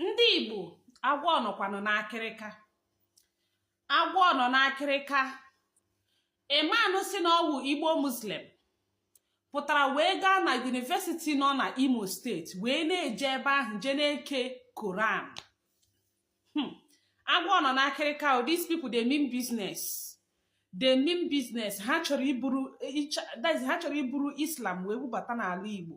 ndị igbo agwọ nọkwanụ n'akịrịka agwọ nọ n'akịrịka emanụ sị na ọ wụ igbo muslim pụtara wee gaa na yunivesiti nọ na imo steeti wee na-eje ebe ahụ je na-eke koran hmm. agwọ nọ n'akịrịka o oh, these people they mean business they mean business ha chọrọ iburu ha chọrọ iburu islam wee bubata n'ala igbo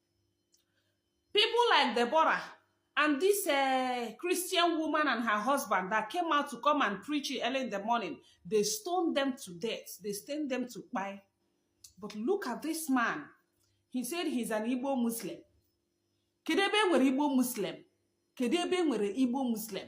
people like deborah and this uh, christian woman and her husband that came out to come and preach early in the morning they stoned them to death they stoned them to kpai but look at this man he said he's an igbo muslim kedu ebe e nwere igbo muslim kedu ebe e nwere igbo muslim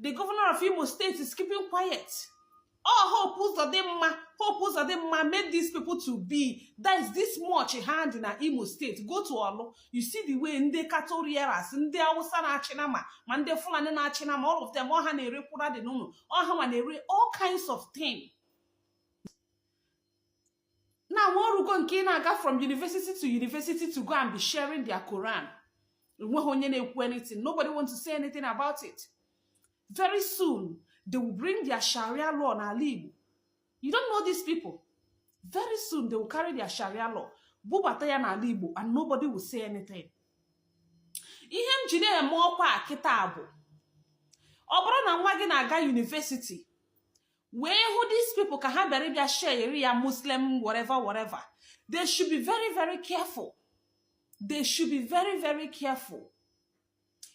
the governor of imo state is keeping quiet oh hope uzodimma hope uzodimma made these people to be that is this much ha dị na imo state go to ọlụ you see the way ndị cattle rearers ndị awụsa na-achị nama ma ndị fulani na-achị nama all of them ọ ha na-ere kwụra dị n'ụlọ ọ ha ma na-ere all kinds of things now o rugo nke ịna-aga from university to university to go and be sharing their Quran enweghị onye na-ekwu anything nobody want to say anything about it very soon they will bring their sharia law n'ala Igbo you don't know these people very soon they will carry their sharia law bubata ya n'ala Igbo and nobody will say anything ihe m ji na-eme ọkwa kịta bụ ọ bụrụ na nwa gị na-aga yunivesiti wee hụ these people ka ha bịara ịbịa share ya muslim whatever whatever they should be very very careful they should be very very careful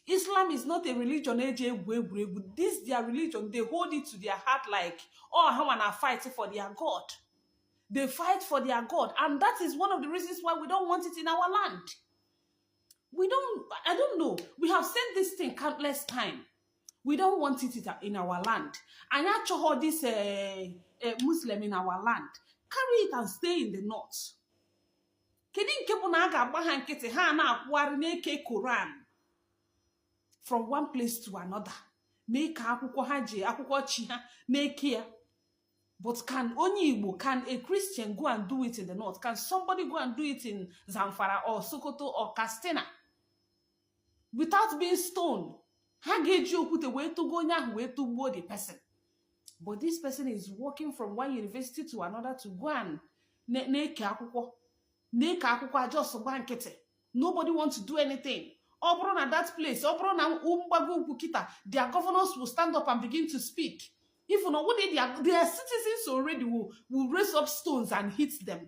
islam is not a religion eji egwu egwuregwu this their religion they hold it to their heart like oh ha wanna fight for their god they fight for their god and that is one of the reasons why we don't want it in our land we don't i don't know we have said this thing countless times we don't want it in our land anyị achọghị this eh, eh, muslim in our land carry it and stay in the north kedu nke bụ na a ga-agba ha nkịtị ha ana-akwụgharị na-eke koran from one place to another na-eke akwụkwọ ha ji akwụkwọ chi ha na-eke ya but can onye igbo can a christian go and do it in the north can somebody go and do it in zamfara or sokoto or katsina without being stoned ha ga-eji okwute wee tụgo onye ahụ wee tụgbuo the person but this person is walking from one university to another to go and na-eke akwụkwọ na-eke akwụkwọ a just gba nkịtị nobody want to do anything ọ bụrụ na that place ọ bụrụ na mgbago ugwu kịta their governors will stand up and begin to speak even ọ wụdị their citizens already will, will raise up stones and hit them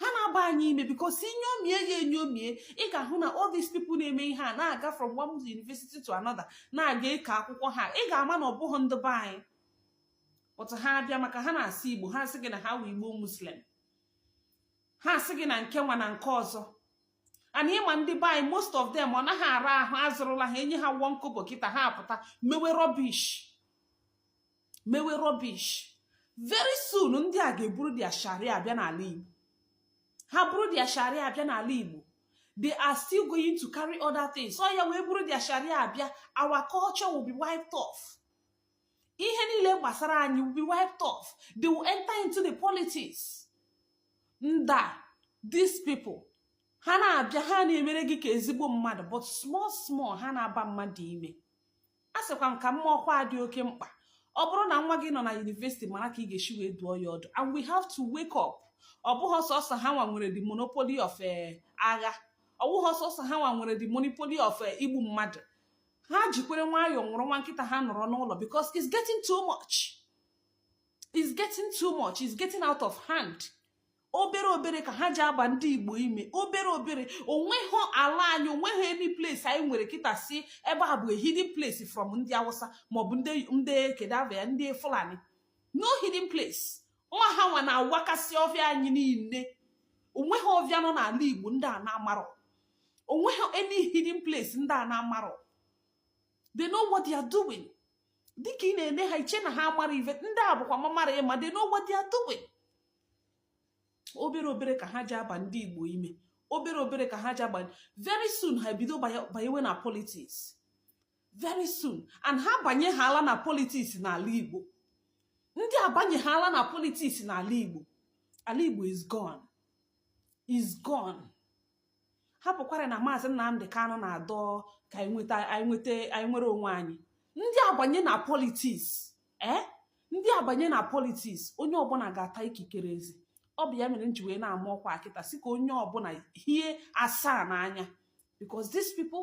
ha na-aba anyị ime because i nyomie ya enyomie ị ga-ahụ na all these people na-eme ihe a na-aga from one university to another na-aga eke akwụkwọ ha ị ga-ama na ọ bụghị ndị be anyị but ha abịa maka ha na-asụ igbo ha asị gị na ha wụ igbo muslim ha asị gị na nke nwa na nke ọzọ and ị ma ndị be anyị most of them ọ naghị ara ahụ a zụrụla ha e nye ha one kobo kịta ha apụta mewe rubbish mewe rubbish very soon ndị a ga-eburu their sharia abịa n'ala igbo ha buru their sharia abịa n'ala igbo they are still going to carry other things so ya wee buru their sharia abịa our culture will be wiped off ihe niile gbasara anyị will be wiped off they will enter into the politics ndị a these people ha na-abịa ha na-emere gị ka ezigbo mmadụ but small small ha na-aba mmadụ ime a sịkwa m ka m maa ọkwa dị oke mkpa ọ bụrụ na nwa gị nọ na university mara ka ị ga-esi wee dụọ ya ọdụ and we have to wake up ọ bụghị sọsọ ha nwa nwere the monopoly of eh, agha ọ bụghị sọsọ ha nwa nwere the monopoly of eh, igbu mmadụ ha jikwere nwayọọ nwụrụ nwa nkịta ha nọrọ n'ụlọ because it's getting too much it's getting too much it's getting out of hand obere obere ka ha ji aba ndị igbo ime obere obere onweghị ala anyị onweghị any place anyị nwere kịta sị ebe a bụ a hidden place from ndị awụsa maọbụ ndị kedu ava ya ndị fulani no hidden place nwa ha nwa na-awakasị ọfịa anyị niile onweghị ọfịa nọ n'ala igbo ndị a na-amarọ onweghị any hidden place ndị a na-amarọ they know what they are doing dịka ị na-ene ha iche na ha amarọ ive ndị a bụkwa mamara ịma they know what they are doing obere obere ka ha ji aba ndị igbo ime obere obere ka ha ji aba very soon ha ebido banyewe na politics very soon and ha banyehaala na politics n'ala igbo ndị a banyehaala na politics n'ala igbo ala igbo is gone is gone hapụkwara na maazị Nnamdị Kanụ na-adọ ka anyị nweta anyị nweta anyị nwere onwe anyị ndị a banye na politics ee eh? ndị a banye na politics onye ọbụla ga-ata ikikere eze ọ bụ ya mere m ji wee na-ama ọkwa a kịta sị ka onye ọbụla hie asaa n'anya because these people